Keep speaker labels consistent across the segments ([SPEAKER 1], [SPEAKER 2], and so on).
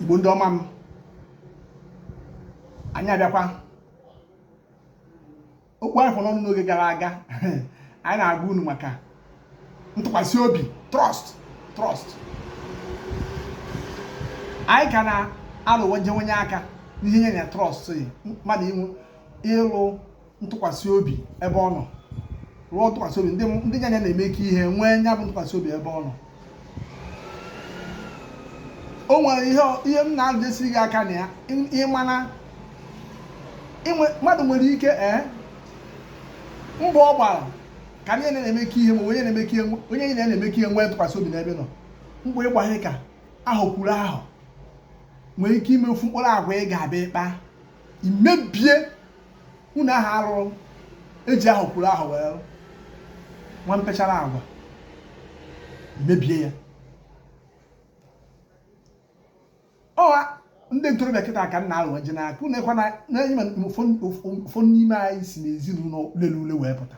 [SPEAKER 1] igbo ndị ọma m anyị abịakwa okwu anyị kọọrọ unu n'oge gara aga anyị na-agwa unu maka ntụkwasị obi trust trust anyị ka na-alụwaje onye aka n'ihe nye na trust mmadụ ịlụ ntụkwasị obi ebe ọ nọ rụọ ntụkwasị obi ndị nya na ya na-emekọ ihe nwee nya bụ ntụkwasị obi ebe ọ nọ o nwere ihe m na-adịsiri gị aka na ya ị ma na mmadụ nwere ike ee eh, mbọ ọ gbara ka onye na-emekọ ihe ma onye na-emekọ ihe onye nya na ya na-emekọ ihe nwee ntụkwasị obi n'ebe ọ nọ mbọ ịgbaghị ka ahọ kwuru ahọ nwere ike ime ofu mkpụrụ agwa ị ga-abịa ịkpa imebie ụnọ ahụ a rụrụ eji ahọ kwuru ahọ wee nwa mpechara agwa mebie ya ọ wụ ndị ntorobịa kịta ka m na-alụ ji n'aka unu ekwana na ụfọdụ n'ime anyị si n'ezinụlọ lere ule wee pụta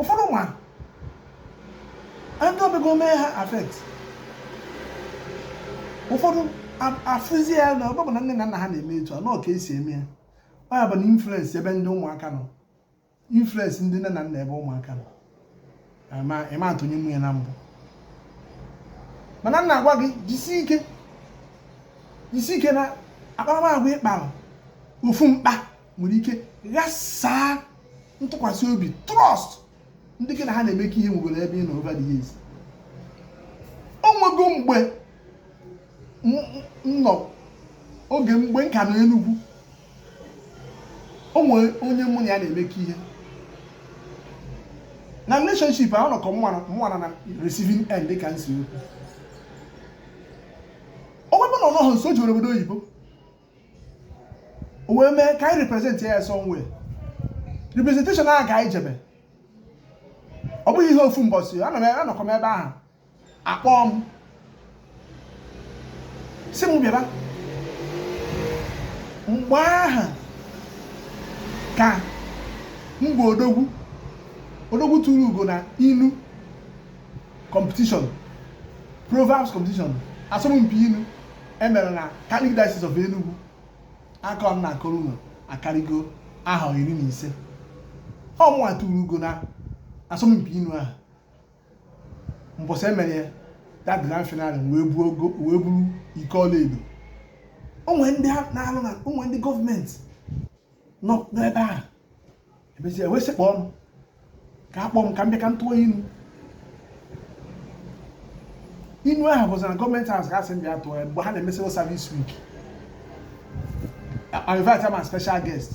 [SPEAKER 1] ụfọdụ ma ndị omego mee ha affect ụfọdụ afụzi ya na ebe ọ bụ na nne na nna ha na-eme etu a na ọ ka esi eme ya ọ ya bụ na influence ebe ndị ụmụaka nọ influence ndị nne na nna ebe ụmụaka nọ ịma atụnye nwunye na mbụ mana m na-agwa gị jisi ike jisi ike na akparamagwa ị kpara ofu mkpa nwere ike ghasaa ntụkwasị obi trust ndị gị na ha na-emekọ ihe nwegoro ebe ị nọ over the years o nwego mgbe m nọ oge mgbe m ka nọ Enugu o nwere onye mụ na ya na-emekọ ihe na relationship ahụ nọkọ mụnwa nọ na receiving end ka m si ekwu ebe ọ bụ na ọ nọghị nso o jere obodo oyibo o wee mee ka anyị represent ya somewhere representation ahụ ka anyị jebe ọ bụghị ihe ofu mbọsị anọkọ m ebe ahụ a kpọọ m sị m bịaba mgbe ahụ ka mgbe odogwu odogwu tụrụ ugo na inu competition proverbs competition asọmpi inu emere na Catholic Diocese of Enugu akụkọ m na-akọrọ unu akarịgo ahọ iri na ise ọ mụnwa tụrụ ugo na asọmpi inu ahụ mbọsị emere ya that grand finale wee buo ugo wee buru iko ọlaedo o nwe ndị ha na-alụ na o nwe ndị government nọ n'ebe ahụ emezie ewesị kpọọ m ka akpọ m ka m bịa ka m tụọ inu inu ahụ bụzi na government house a sị m bịa tụọ ya mgbe ha na-eme civil service week invite m as special guest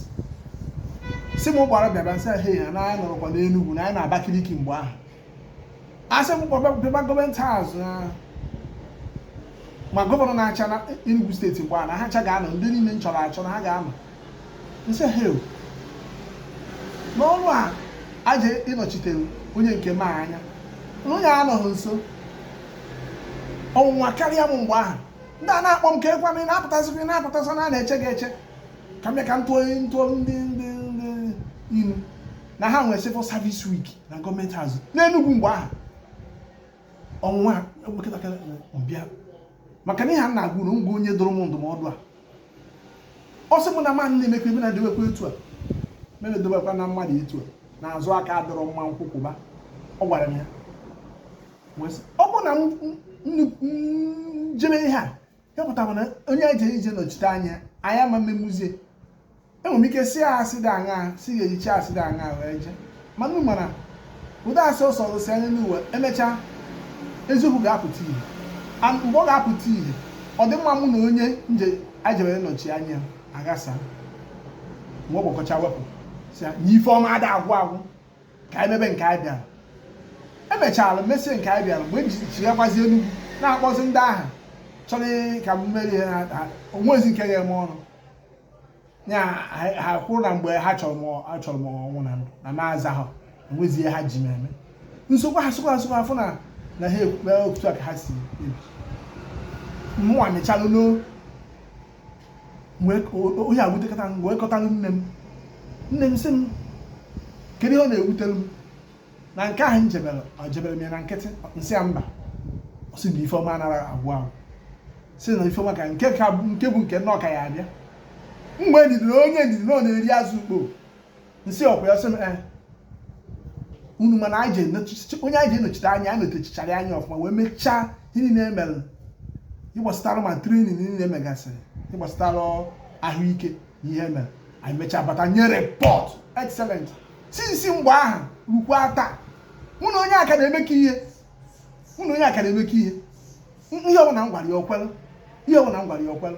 [SPEAKER 1] sị m gbara bịaba nsị ha na anyị anọrọkwa n'Enugwu na anyị nọ Abakaliki mgbe ahụ a sị m kpọbịba government house ma gọvanọ na-achị na Enugu steeti mgbe a na ha cha ga-anọ ndị niile m chọrọ achọ na ha ga-anọ nsị ha n'ọrụ a aje ịnọchite onye nke m anya na onye anọghị nso ọnwụnwa karịa m mgbe ahụ ndị a na-akpọ m ka ekwa m na-apụtasịkwa na-apụtasị na na-eche gị eche ka m ka m tụọ ntụọ ndị ndị ndị ilu na ha nwee civil service week na government house n'enugwu mgbe ahụ ọnwụnwa nwatakịrị m bịa maka na ihe a na-agụ na ngwa onye dụrụ m ndụmọdụ a ọ sị m na mmadụ na-emekwa ebe na-edewekwa etu a mere edewekwa na mmadụ etu a na azụ aka adịrọ mma nkukuba ọ gwara m ya ọ bụ na njebe ihe a ya pụtara na onye eje ije nọchite anya anyị ama mmemuzie enwere m ike si ya asị dị aṅa si ya ejichi asị dị aṅa wee jee mana unu mara ụdọ asị ọsọ ọzọsi anya n'uwe emechaa eziokwu ga-apụta ihe and mgbe ọ ga-apụta ihe ọ dị mma mụ na onye nje ajebere nọchi anya aghasa mgbe ọ gbakọcha wepụ sị ya na ife ọma ada agwụ agwụ ka anyị mebe nke anyị bịara emechara mesie nke anyị bịara mgbe nji chighakwazi Enugu na-akpọzi ndị ahụ chọrọ ka m mere ihe o nwezi nke ga-eme ọrụ ya ha kwuru na mgbe ha chọrọ m achọrọ m ọnwụ na ndụ na maaza ha enwezi ihe ha ji m eme nsogbu ha sokwa asokwa afọ na na ha ekpukpe otu a ka ha si ebi mụnwa mechalụ ihe a wutekata m wee kọtalụ nne m nne m sị m kedu ihe ọ na-ewutere m na nke ahụ m jebere ejebere m ya na nkịtị nsị ya mba ọ sị na ife ọma anara agwụ agwụ sị na ife ọma ka nke bụ nke mụ ọ ka ya-abịa nwee ndidi na onye ndidi na ọ na-eri azụ ukpo nsị ọkwa ya sị m ee unu ma na anyị ji enochi- onye anyị ji enochite anya anyị nọchichara anya ọfụma wee mechaa ihe niile emere ịgbasatara ma trenin niile megasịrị ịgbasatara ahụike na ihe mere anyị mechaa bata nye report excellent since mgbe ahụ rukwa taa mụ na onye a ka na-emekọ ihe mụ na onye a ka na-emekọ ihe M- ihe ọbụla m gwara ya o kwere ihe ọbụla m gwara ya o kwere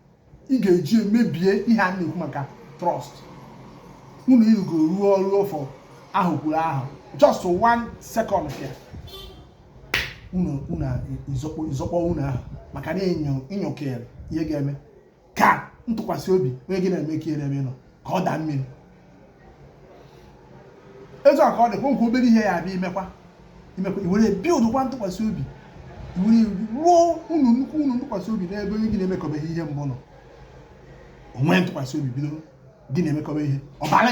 [SPEAKER 1] ị ga-eji emebie ihe a na-ekwu maka trust unu irugo ruo ọrụ ọfọ ahụ kwuru ahụ just one second ka unu unu izọkpọ izọkpọ unu ahụ maka na enyo inyokere ihe ga-eme ka ntụkwasị obi onye gị na-emekọ ihe na-eme nọ ka ọ daa mmiri etu a ka ọ dị kwa nkwa obere ihe ya abịa imekwa imekwa iwere build kwa ntụkwasị obi iwere ruo unu nnukwu unu ntụkwasị obi n'ebe onye gị na-emekọbeghị ihe mbụ nọ o nwee ntụkwasị obi bido gị na-emekọba ihe ọ bara